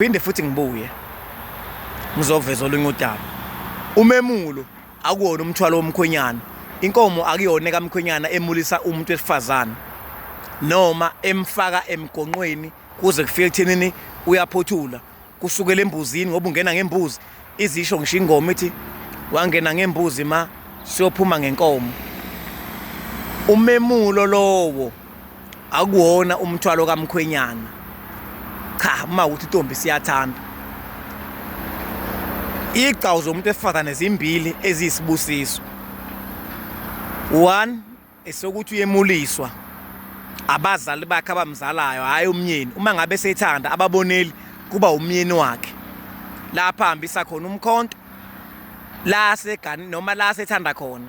Phinde futhi ngibuye ngizoveza olunye udaba. Umemulo akuwona umthwalo womkhwenyana. Inkomo akuyona kamkhwenyana emulisa umuntu wesifazane noma emfaka emgonqweni kuze kufike ekuthenini uyaphothula kusukela embuzini ngoba ungena ngembuzi izisho ngisho ingoma ithi wangena ngembuzi ma siyophuma ngenkomo umemulo lowo akuwona umthwalo kamkhwenyana cha uma ukuthi intombi siyathanda igcawu zomuntu esifazane zimbili eziyisibusiso one esokuthi uyemuliswa abazali bakhe abamzalayo hhayi umyeni uma ngabe sethanda ababoneli kuba umyeni wakhe lapha hambisa khona umkhonto la segani noma la sethanda khona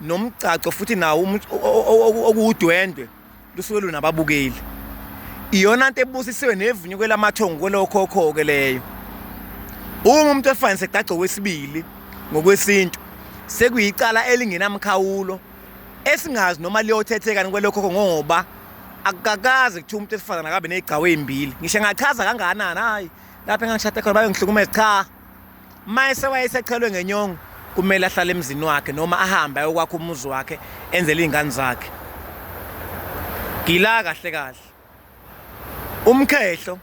nomgcagco futhi nawo okuwudwendwe lusuke lunababukeli iyona nto ebusisiwe nevunyuke lamathongo kwelokhokho-ke leyo uma umuntu efanise gcagco wesibili ngokwesintu sekuyicala elingenamkhawulo esingazi noma liyothethekani kwelokhokho ngoba akukakaze kuthiwa umuntu esifazane akabe negcawu ey'mbili ngisho ngachaza kangakanani hhayi lapho engangishade khona bayongihlukumeza cha mayese wayesechelwe ngenyongo kumele ahlale emzini wakhe noma ahambe ayokwakha umuzi wakhe enzele izingane zakhe gila kahle kahle umkhehlo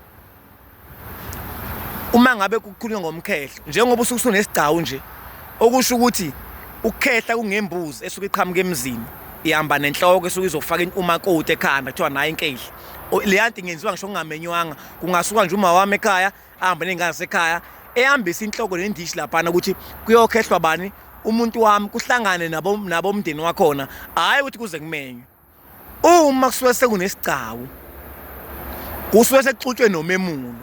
uma ngabe kukhulunywa ngomkhehlo njengoba usuke usunesigcawu nje okusho ukuthi ukukhehla kungembuzi esuke iqhamuka emzini ihamba nenhloko esuke izofaka umakoti ekhanda kuthiwa nayo inkehla leya nto ingenziwa ngisho ngingamenywanga kungasuka nje uma wami ekhaya ahambe ney'ngane zasekhaya ehambisa inhloko nendishi laphana ukuthi kuyokhehlwa bani umuntu wami kuhlangane nabomndeni wakhona hhayi ukuthi kuze kumenywe uma kusuke sekunesigcawu kusuke sekuxutshwe nomemulo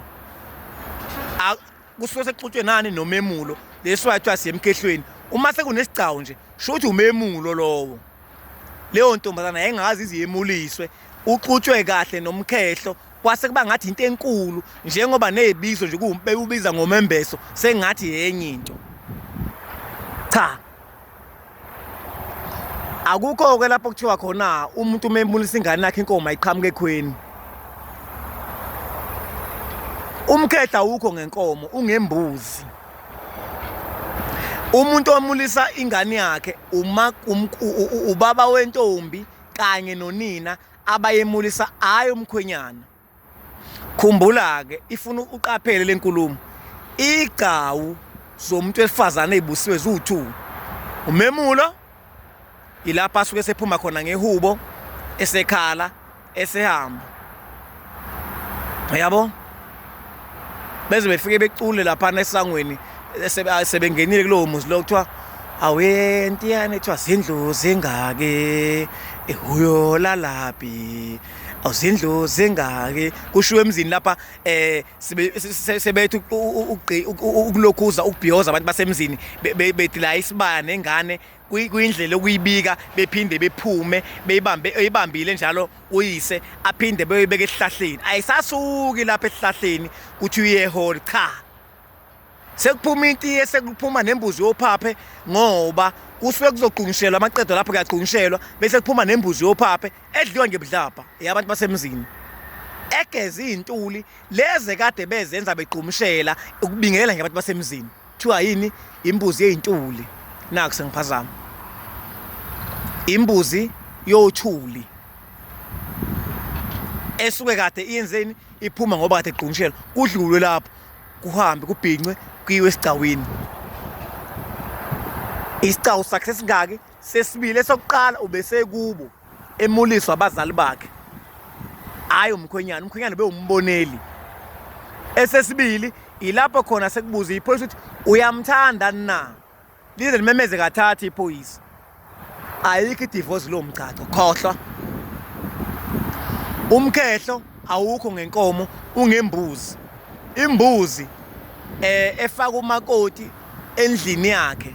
kusuke sekuxutshwe nani nomemulo leso yathiwa siyemkehlweni uma sekunesigcawu nje sho ukuthi umemulo lowo leyo ntombazana yayingazi iziyemuliswe uxutshwe kahle nomkhehlo kwase kuba ngathi into enkulu njengoba nezibizo nje kuwubiza ngomembeso sengathi yenye into cha akukho ke lapho kuthiwa khona umuntu umembulisa ingane yakhe inkomo ayiqhamuke ekhweni umkhehla wukho ngenkomo ungembuzi umuntu omulisa ingane yakhe uma ubaba wentombi kanye nonina abayemulisa hayi umkhwenyana khumbula ke ifuna uqaphele lenkulumo igcawu zomuntu wesifazane ezibusiwe ziwu2 umemulo ilapha asuke sephuma khona ngehubo esekhala esehamba yabo beze befike becule laphana esangweni sebengenile kulowo muzi lo kuthiwa awuye ntiyane kuthiwa zindlu zingaki ehuyo lalaphi awuzindlu zingaki kushiwo emzini lapha eh sebethu ukulokhuza ukubhiyoza abantu basemzini bethi la isibaya nengane kuyindlela okuyibika bephinde bephume beyibambe eyibambile njalo uyise aphinde beyibeke esihlahleni ayisasuki lapha esihlahleni kuthi uyehole cha sekuphuma intiye sekuphuma nembuzi yophaphe ngoba kusuke kuzoqungishelwa amaqedo lapho kuyaqungishelwa bese kuphuma nembuzi yophaphe edliwa ngebudlabha yabantu basemzini egeze izintuli leze kade bezenza bequmshela ukubingelela nje abantu basemzini Kuthiwa yini imbuzi yey'ntuli naku sengiphazama imbuzi yothuli esuke kade iyenzeni iphuma ngoba kade igqungishela kudlulwe lapho kuhambe kubhincwe kuyiwe esigcawini isicawu sakhe sesingaki sesibili esokuqala ubesekubo emuliswa abazali bakhe hhayi umkhwenyana umkhwenyana bewumboneli esesibili ilapho khona sekubuza iphoyisa ukuthi uyamthanda na lize limemeze kathatha iphoyisa ayikho idivosi lo mgcagco khohlwa umkhehlo awukho ngenkomo ungembuzi imbuzi eh efaka umakoti endlini yakhe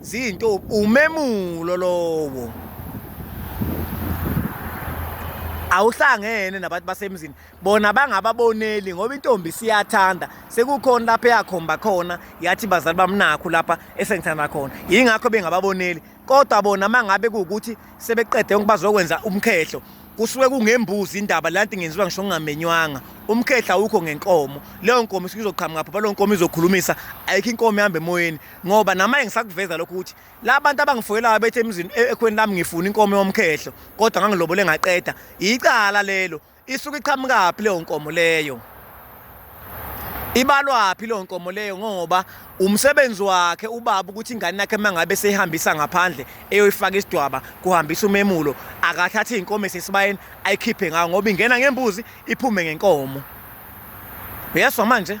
Zinto umemulo lowo. awuhlangene nabantu basemzini bona bangababoneli ngoba intombi siyathanda sekukhona lapha eyakhomba khona yathi bazali bamnakho lapha esengithanda khona yingakho bengababoneli kodwa bona mangabe kuwukuthi sebeqede yonke bazokwenza umkhehlo kusuke kungembuzi indaba lanti ngenziwa ngisho ngingamenywanga umkhehla awukho ngenkomo leyo nkomo isizoqhamuka phapha leyo nkomo izokhulumisa ayikho inkomo ihamba emoyeni ngoba namanje ngisakuveza lokho ukuthi la bantu abangifuyelayo bethe emzini e-, ekhweni lami ngifuna inkomo yomkhehlo kodwa ngangilobole ngaqeda icala lelo isuke iqhamukaphi leyo nkomo leyo ibalwaphi leyo nkomo leyo ngoba umsebenzi wakhe ubaba ukuthi ingane yakhe mangabe seyihambisa ngaphandle eyoyifaka isidwaba kuhambisa umemulo akathathe inkomo esesibayeni ayikhiphe ngayo ngoba ingena ngembuzi iphume ngenkomo uyeswa manje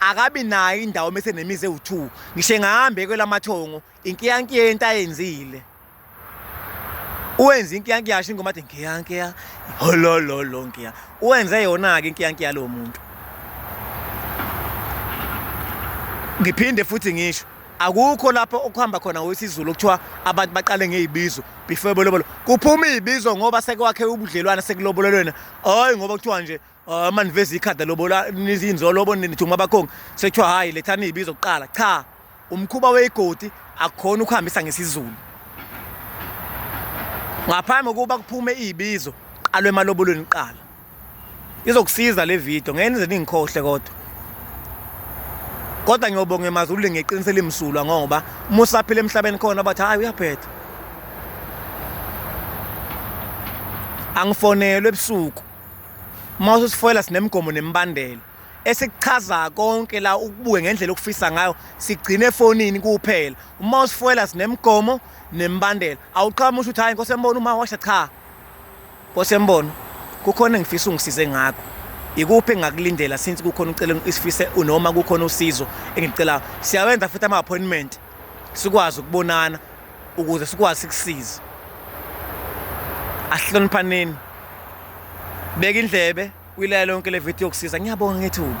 akabi nayo indawo mese nemizi ewu2 ngisho engahambe kwelamathongo inkiyankiya yento ayenzile uwenza inkiyankiya yasho ingoma athi nkiyankiya holololo nkiya uwenze yona ke inkiyankiya lo muntu ngiphinde futhi ngisho akukho lapho okuhamba khona wesizulu okuthiwa abantu baqale ngezibizo before bolobolo kuphuma izibizo ngoba sekwakhe ubudlelwane sekulobolelwena hayi ngoba kuthiwa nje Ah, uma niveza ikhadi lobola nizinzolo bo nithi uma bakhongi sekuthiwa hhayi lethani iy'bizo kuqala cha umkhuba weyigodi akukhona ukuhambisa ngesizulu ngaphambi kokuba kuphume iy'bizo qalwe emalobolweni kuqala izokusiza le video ngeke nize ningikhohle kodwa kodwa ngiyobonga emazulwini ngeqiniso elimsulwa ngoba uma usaphila emhlabeni khona bathi hhayi uyaphetha angifonelwe ebusuku Uma ususifoyela sinemigomo nemibandela esikuchaza konke la ukubuke ngendlela okufisa ngayo sigcine efonini kuphela uma usifoyela sinemigomo nembandela awuqhamushi ukuthi hayi nkosi embona uma washa cha nkosi embona kukhona engifisa ungisize ngakho ikuphi engakulindela since kukhona ucela isifise unoma kukhona usizo engicelayo siyawenza futhi ama-appointment sikwazi ukubonana ukuze sikwazi sikusize asihloniphaneni beka indlebe uyilalela yonke le video yokusiza ngiyabonga ngethuba